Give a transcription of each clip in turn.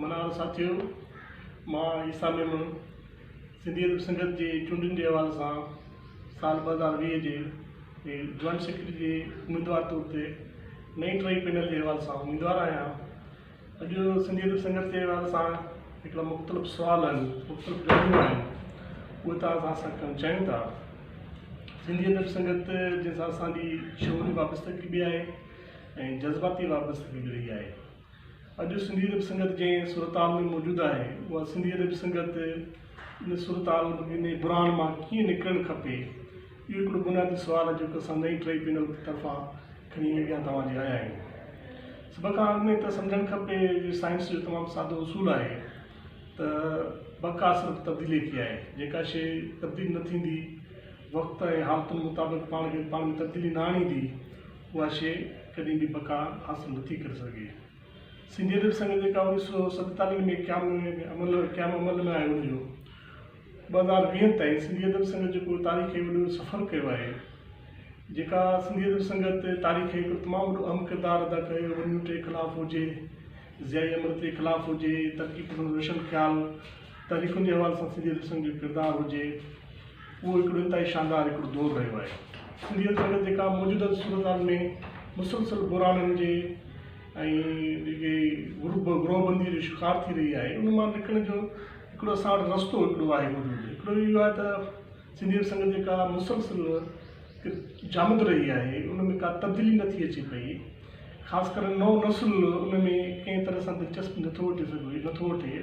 منار ساٿيو، مان عيسيٰ ميمڻ سنڌي ادب سنگت جي چونڊن جي حوالي سان سال ٻه هزار ويهه جي جوائنٽ سيڪريٽري جي اميدوار طور تي نئين ٽرئي پينل جي حوالي سان اميدوار آهيان اڄ سنڌي ادب سنگت جي حوالي سان هڪڙا مختلف سوال آهن مختلف ڳالهيون آهن اهي توهان سان اسان ڪرڻ چاهيون ٿا سنڌي ادب سنگت جنهن سان اسان جي شعوري وابستگي به آهي ۽ جذباتي وابستگي به رهي آهي اڄ سنڌي ادب سنگت جنهن صورتحال ۾ موجود آهي، اها سنڌي ادب سنگت ان صورتحال، ان بحران مان ڪيئن نڪرڻ کپي؟ اهو هڪڙو بنيادي سوال آهي جيڪو اسان نئين ٽرئي پينل طرفان کڻي اڳيان توهان جي آيا آهيون. سڀ کان اڳ ۾ ته سمجهڻ کپي جو سائنس جو تمام سادو اصول آهي ته بقا صرف تبديلي کي آهي. جيڪا شيء تبديل نه ٿيندي، وقت ۽ حالتن مطابق پاڻ کي پاڻ ۾ تبديلي نه آڻيندي، اها شيء ڪڏهن به بقا حاصل نٿي ڪري سگهي. سنڌي ادبي سنگت جيڪا اوڻيهه سؤ ستيتاليهه ۾ قيام عمل قيام عمل ۾ آيو هجيو ٻه هزار ويهه تائين سنڌي ادبي سنگت جيڪو تاريخي وڏو سفر ڪيو آهي جيڪا سنڌي ادبي سنگت تاريخي هڪڙو تمام وڏو اهم ڪردار ادا ڪيو ونيو ٽي خلاف هجي ضيائي امرتي خلاف هجي، ترقي پسند روشن خيال تحريڪن جي حوالي سان سنڌيت رسم جو ڪردار هجي، اهو هڪڙو انتهائي شاندار هڪڙو دور رهيو آهي. سنڌيت رنگ جيڪا موجوده صورتحال ۾ مسلسل بحرانن جي ۽ جيڪي گروهه بندي جو شڪار ٿي رهي آهي، ان مان نڪرڻ جو هڪڙو اسان وٽ رستو هڪڙو آهي موجود هڪڙو اهو آهي ته سنڌي ادب سنگت جيڪا مسلسل جامد رهي آهي ان ۾ ڪا تبديلي نه ٿي اچي پئي خاص ڪري نئون نسل ان ۾ ڪنهن طرح سان دلچسپي نٿو وٺي سگهي نٿو وٺي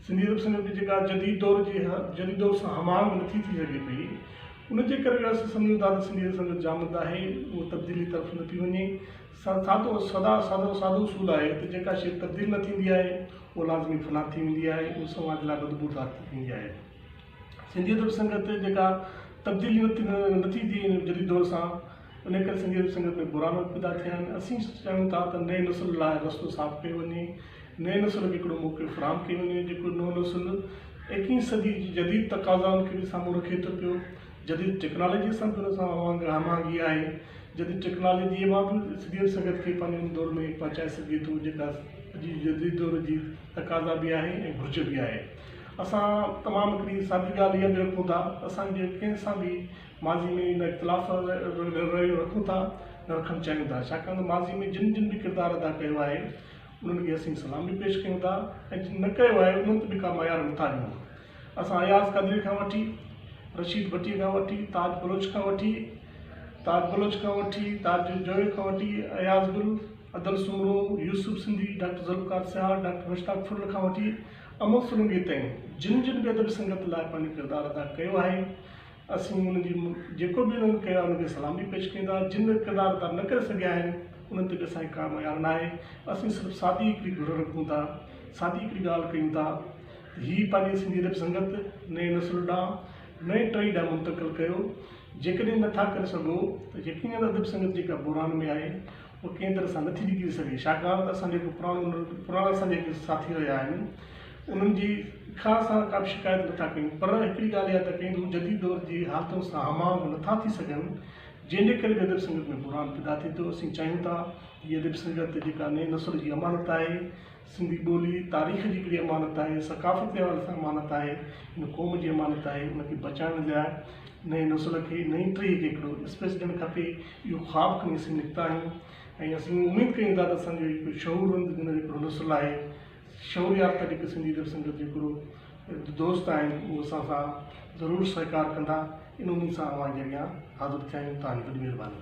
سنڌي ادب سنگت جي جيڪا جديد دور جي جديد دور سان هم آهنگ نٿي ٿي سگهي پئي ان جي ڪري اسان سمجهون ٿا ته سنڌي ادب سنگت جامد آهي اهو تبديلي طرف نه پئي وڃي سادو سدا سادو سادو اصول آهي ته جيڪا شي تبديل نه ٿيندي آهي اها لازمي فنا ٿي ويندي آهي اها سماج لاء بدبودار ٿي ويندي آهي سنڌي ادب سنگت جيڪا تبديلي نٿي ٿئي جديد دور سان ان ڪري سنڌي ادب سنگت ۾ بحران پيدا ٿيا آهن اسين چاهيون ٿا ته نئين نسل لاء رستو صاف ڪيو وڃي نئين نسل کي هڪڙو موقعو فراهم ڪيو وڃي جيڪو نئون نسل ايڪيهين صدي جي جديد تقاضائن کي به سامهون رکي ٿو پيو جديد ٽيڪنالاجي سان به ان سان اوهانگي هماهنگي آهي جديد ٽيڪنالاجي مان به سنڌي ادب سنگت کي پنهنجي ان دور ۾ پهچائي سگهجي ٿو جيڪا اڄ جي جديد دور جي تقاضا به آهي ۽ گهرج به آهي اسان تمام هڪڙي سادي ڳالهه اها به رکون ٿا ته اسان جي ڪنهن سان به ماضي ۾ نه اختلاف رويو رکون ٿا نه رکڻ چاهيون ٿا ڇاڪاڻ ته ماضي ۾ جن جن به ڪردار ادا ڪيو آهي انهن کي اسين سلام به پيش ڪيون ٿا ۽ جن نه ڪيو آهي انهن تي به ڪا معيار نه ٿا ڏيون اسان اياز قادري کان وٺي رشيد ڀٽي کان وٺي تاج بلوچ کان وٺي تاج بلوچ کان وٺي تاج جويو کان وٺي اياز گل عدل سومرو يوسف سنڌي ڊاڪٽر ذوالفقار سيال ڊاڪٽر مشتاق ڦل کان وٺي امر سولنگي تائين جن جن به ادبي سنگت لاء پنهنجو ڪردار ادا ڪيو آهي اسين انهن جي جيڪو به انهن ڪيو آهي انهن کي سلامي پيش ڪيون ٿا جن به ڪردار ادا نه ڪري سگهيا آهن انهن تي به اسان کي ڪا معيار نه آهي اسين صرف سادي هڪڙي گهر رکون ٿا سادي هڪڙي ڳالهه ڪيون ٿا ته هي پنهنجي سنڌي ادبي سنگت نئين نسل ڏانهن نئين ٽهي ڏانهن منتقل ڪيو جيڪڏهن نٿا ڪري سگهو ته يقينن ادبي سنگت جيڪا بحران ۾ آهي اهو ڪنهن طرح سان نٿي ڊڄي سگهي ڇاڪاڻ ته اسان جا جيڪو پراڻا پراڻا اسان جا جيڪي ساٿي رهيا آهن انهن جي کان اسان ڪا به شڪايت نٿا ڪيون پر هڪڙي ڳالهه اها ٿا ڪيون ته هو جديد دور جي حالتن سان هم آهنگ نٿا ٿي سگهن جنهن جي ڪري به ادب سنگت ۾ بحران پيدا ٿئي ٿو اسين چاهيون ٿا هي ادب سنگت جيڪا نئين نسل جي امانت آهي سنڌي ٻولي تاريخ جي هڪڙي امانت آهي، ثقافت جي حوالي سان امانت آهي، هن قوم جي امانت آهي، ان کي بچائڻ لاء نئين نسل کي نئين ٽهي کي هڪڙو اسپيس ڏيڻ کپي، اهو خواب کڻي اسين نڪتا آهيون ۽ اسين اميد ڪيون ٿا ته اسان جو هڪڙو شعورمند جن جو هڪڙو نسل آهي، شعور يافته جيڪي سنڌي ادب سنگت جو هڪڙو دوست آهن اهو اسان سان ضرور سهڪار ڪندا، ان اميد سان اوهان جي اڳيان حاضر ٿيا آهيون، توهان جي وڏي مهرباني.